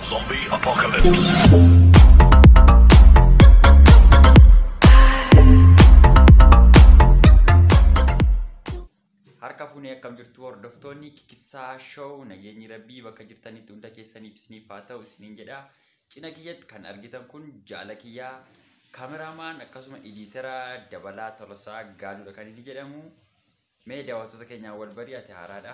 Zombie Apocalypse. Harka fuunee akkam jirtu hordoftoonni kikkisaa show nageenyi rabbii bakka jirtanitti hunda keessaniif isiniif haa ta'u isiniin jedha. Cina kiyyatti kan argitan kun jaala kiyyaa kameraamaan akkasuma ediitara dabalaa tolosaa gaaluudha kan inni jedhamu. Mee daawwattoota keenyaa wal barii ati haaraadha.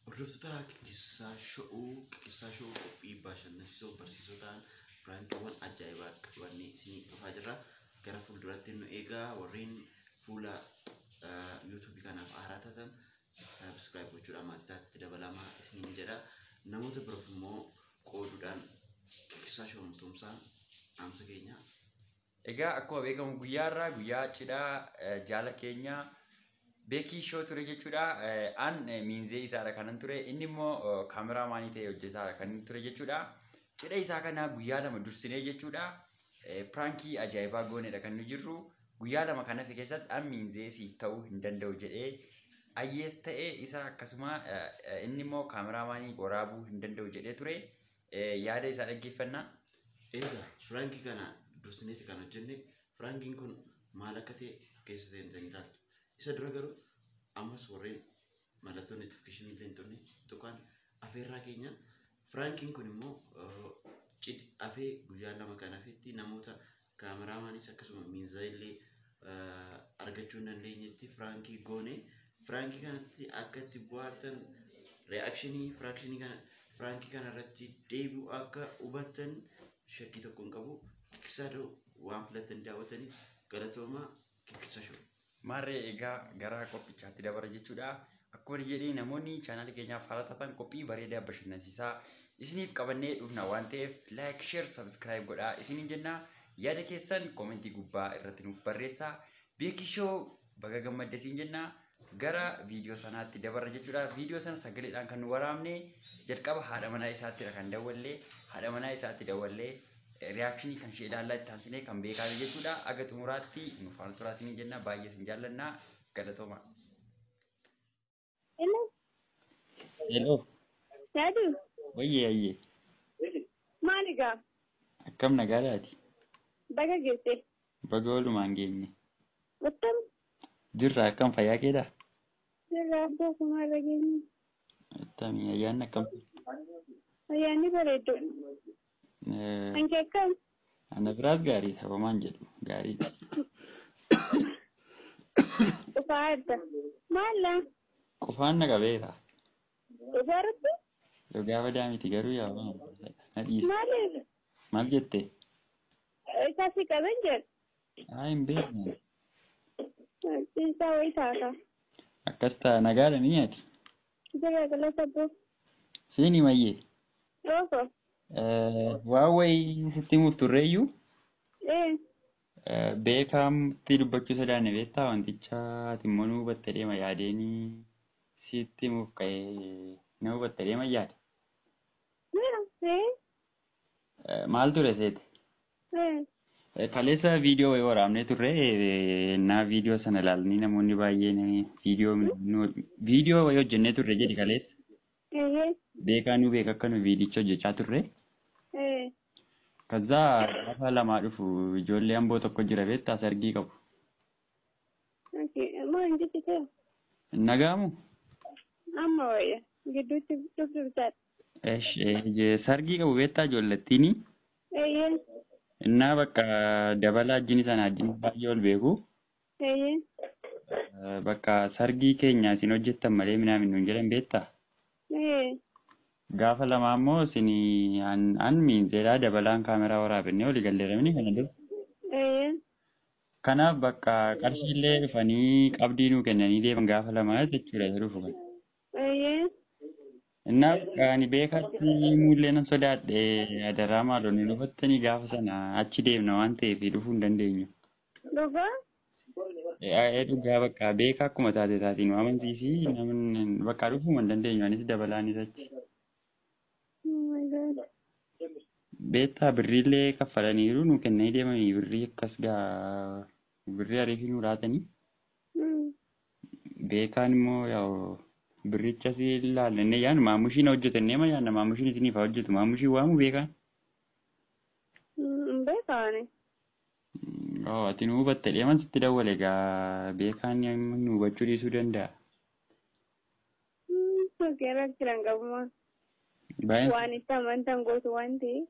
Hordoftoota Kikisaa Showuu, Kikisaa Showuu qophii bashannansiisoo barsiisoo ta'an firaankiiwwan ajaa'ibaa qabannee isinii dhufaa jirra. Gara fuulduraatti nu eegaa warreen fuula yuutuubii kanaaf haaraa taatan saabskiraayib gochuudhaan maatii taatti dabalama isiniin jedha. Namoota biroof immoo qooduudhaan Kikisaa Showuu Tumsaa dhaamsa keenya Egaa akkuma beekamu guyyaa irraa guyyaa cidhaa jaala keenya Beekii Shoo ture jechuudha. An miinzee isaadha kanan ture. Inni immoo kaameraa maanii ta'e hojjetaadha kan inni ture jechuudha. Cidha isaa kana guyyaa lama dursinee jechuudha. Piraankii ajaa'ibaa goonedha kan nu jirru. Guyyaa lama kan hafe keessatti an miinzee siif ta'uu hin danda'u jedhee ayyees ta'e isa akkasuma inni immoo kaameraa maanii waraabuu hin danda'u jedhee ture. Eh, yaada isaa dhaggeeffannaa Egaa firaanki kana dursineeti kan hojjenne firaankiin kun maal akka ta'e keessa seentanii ilaaltu. Isa dura garuu ammas warreen mallattoo notifikashinii illee hin turne tuqaan afeerraa keenya firaankiin kun immoo eh, cid afee guyyaa lama kan hafetti namoota kaameraamaanis akkasuma miinzaa illee argachuu hin dandeenyetti firaankii goone firaankii kanatti akka itti bu'aartan reakshinii firaakshinii kana firaankii kana irratti deebi'u akka hubattan shakkii tokko hin qabu kikisaadoo waan filattan daawwataniif galatoomaa Qophicha show. Maarree egaa gara qophichaatti dabara jechuudha. Akkuma jedhee namoonni chaanaalii keenyaaf haala taatan qophii bareedaa bashannansiisaa isiniif qabannee dhufna waan ta'eef like, share, subscribe godhaa isiniin jenna. Yaada keessan koomentii gubbaa irratti nuuf barreessaa. Beekishoo baga gammadde siin jenna. gara viidiyoo sanaatti dabarra jechuudha. Viidiyoo sana sagaleedhaan kan nu waraabne jalqaba haadha manaa isaattidha kan dawwallee haadha manaa isaatti dawwallee riyaakshinii kan ishee ilaallaa itti aansinee kan beekaame jechuudha. Aga xumuraatti nu faana turaa isiniin jenna baay'ee isin jaallanna galatooma. Hello, Hello, Dadu, wayyee ayyee, maali gaa? akkam nagaadhaati? Baga geesse. Baga walumaan geenye. Akkam Jirra akkam fayyaa keedha? jirra abboo kumaa irra geenye. Attamii ayyaanni akkam? Ayyaanni bareeddu. Eh, Anki akkam? Ana biraas gaariidha homaan jedhu gaariidha. Dhufaa adda. Maalla? Qufaan na qabeera. Dhugaa rabbi? Dhugaa badaa miti garuu yaa waan na dhiisa. Maaliif? Maal jette? Isaa si qaben jedhu. Haa hin beekne. Isaa wayii taata. Akkas ta'a nagaadha ni nyaati. Jira gala sabboo. Siini mayyee. Rooko. Waa wayii sitti himuuf turreeyyuu Ee. beekaamtti dubbachuu sodaanne beektaa wanticha ati immoo nu hubatte deema yaadeenii sitti himuuf ka'ee na hubatte deema yaade. Jira. Ee. Maal ture seete? Kaleessa viidiyoo wayii waraabnee turre naa viidiyoo sana ilaalanii namoonni baay'een viidiyoo viidiyoo wayii hojjennee turre jedhi kaleessa. Beekaa nu beeka akka nu viidicha hojjechaa turre. Kaza gaafa lamaa dhufu ijoollee amboo tokko jira beektaa sargii qabu. Maal jechi ta'e? Nagaamu? Amma wayya gidduutti dhufdurtaadha. Esh, eh, je- sargii qabu beektaa ijoollettiini. Eeyyee. Innaa bakka dabalaa ajjini sana ajjini baay'ee ol beeku. Eeyyee. Eh, Bakka sargii keenya isin hojjettan malee minaa minnuun jedhan beektaa? Ee. Gaafa lamaa immoo isin an, an miinzeedhaa dabalaan kaameraa waraabinne olii galleeramini kana dura. Eeyyee. Kanaaf bakka qarshiillee dhufanii qabdii nuu kennanii deeman gaafa lamaa jechuudha isa dhufu kana. Eeyyee. Innaaf ani beekaatti himuullee nan sodaadhe adaraa maaloo nu dhufattanii gaafa sana achi deemna waan ta'eef dhufuu hin dandeenyu. Dhugaa? Ee dhugaa bakka beekaa akkuma taate taati nu amansiisi namni bakka dhufuu hin dandeenyu anis dabalaanis achi. Oh my God. Beektaa birriillee kaffalaniiru nu kennanii deemanii birrii akkas gaa birrii ariifii nu laatanii. Mm. Beekaan immoo yaa'u birricha si ilaalle inni yaanu maamushiin hojjetannee ma yaanna maamushiin isiniif haa hojjetu maamushiin waamu beekaan. Hin beekaani. Oo ati nu hubatte dheeman sitti dawwale egaa beekaan nu hubachuu dhiisuu danda'a. Sokeerra jiran qabuma. Baay'een Waan itti amantan gootu waan ta'eef.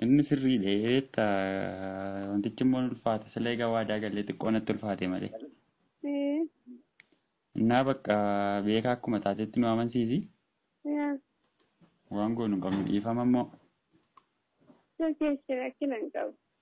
inni sirriidha jeetta wantichi immoo ulfaata sila egaa waadaa galee xiqqoo natti ulfaate malee. Eh, Innaa bakka beekaa akkuma taatetti nu amansiisi yaa, waan goonu hin qabnu dhiifama immoo. Sokeessi rakkina hin qabu.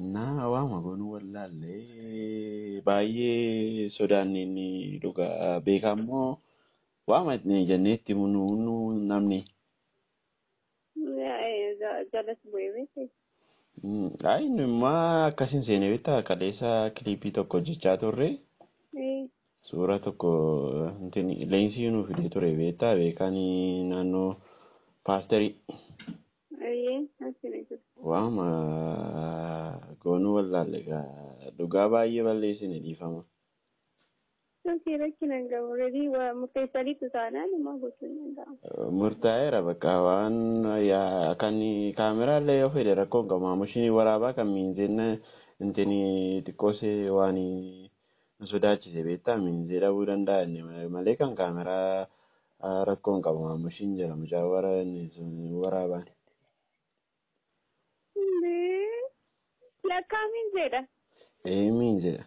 Innaa waanuma goonu wallaalle baay'ee sodaanne inni dhugaa beekaa immoo waama itti jennee itti himnu nu namni. Jalas bu'ee beekte. Mm, Ay inni immaa akkasiin seenee beektaa kaleessa kiliipii tokko hojjechaa turre suura tokko intin leensii nuu fidee ture beektaa beekaan naannoo paasterii. Ayyee asii ni jiru. Waama goonuu wallaalle gaa dhugaa baay'ee balleessine dhiifama. Sokii rakkina hin qabu. Redii waa murteessaniitu taanaan immoo gochuun danda'ama. Murtaa'eera bakka waan yaa- kan kaameraa illee yoo fedhe rakkoo hin qabu maamushinii waraabaa kan miinzeen intini xiqqoosee waan nu sodaachise beektaa miinzee dhabuu danda'a inni malee kan kaameraa Rakkoo hin qabu maamushiin jira mucaa wara inni sun waraabaan. Lee. Lakkaa miin jedha. Ee miin jedha.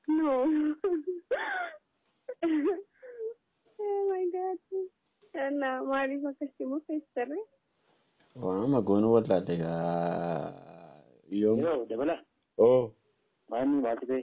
No. oh my god. Na maaliif akkasitti murteessarre? Waanuma goonuu wallaalle gaa yoom. Yoo dabala Oo. maanni maal ta'e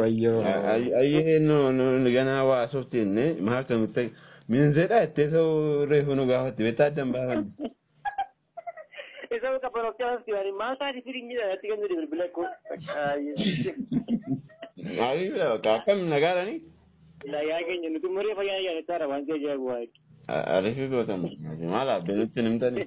Wayyoo. Ayyee nu nu nu ganaa waa asofti jenne maal kan nutti minzeedha jettee soo reefu nu gaafatti beektaa addan baafanne. Isa muka panokchaa hafti waan maal taati firin jedhan atti kan jedhe bilbila ko. Maalii bira bakka akkam nagaadhani? Nagaa keenya nuti umuree fayyaa yaadataa dha waan si ajaa'ibu waa'ee. Ariifii gootan maal abbe nutti hin himtani?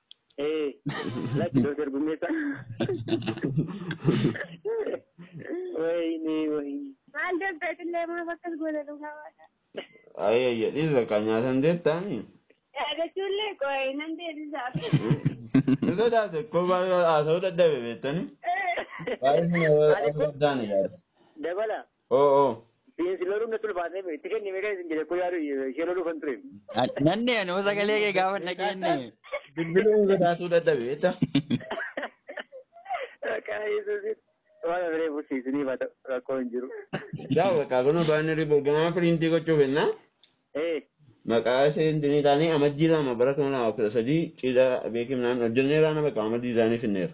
Ee, lakki Dooktar Gummeessaa. Wayne, wayne. Maal Dooktar Qillee maaf akkas goota dhugaa waaqa. Ayya ayya dhiisa kan nyaatan deettaani. Yaadachuullee qo'ee nan deebisaaf. Ni sodaate koo baay'ee haasa'uu dadhabe beektani. Baay'ee Ani koo- sodaani yaada. Dabala. Oo oo. Siinsi loluun natti ulfaatee itti kenni meeqan isin jedhe koo yaadu ishee loluu kan ture. Nanni anoo sagalee kee gaafa dhageenye. Bilbiluun sodaasuu dadhabe jecha. Maqaa Yesuusiin waan ofiree fursiisiniif haa ta'u rakkoo hin jiru. Yaa bakka kun baanirri borgamaa piriintii gochuu fennaa. Ee Maqaa isheen dinii taanii amajjii lama bara kuma lama kudha sadii cidha beekimnaan hojjenneeraan bakka amajjii isaanii finneera.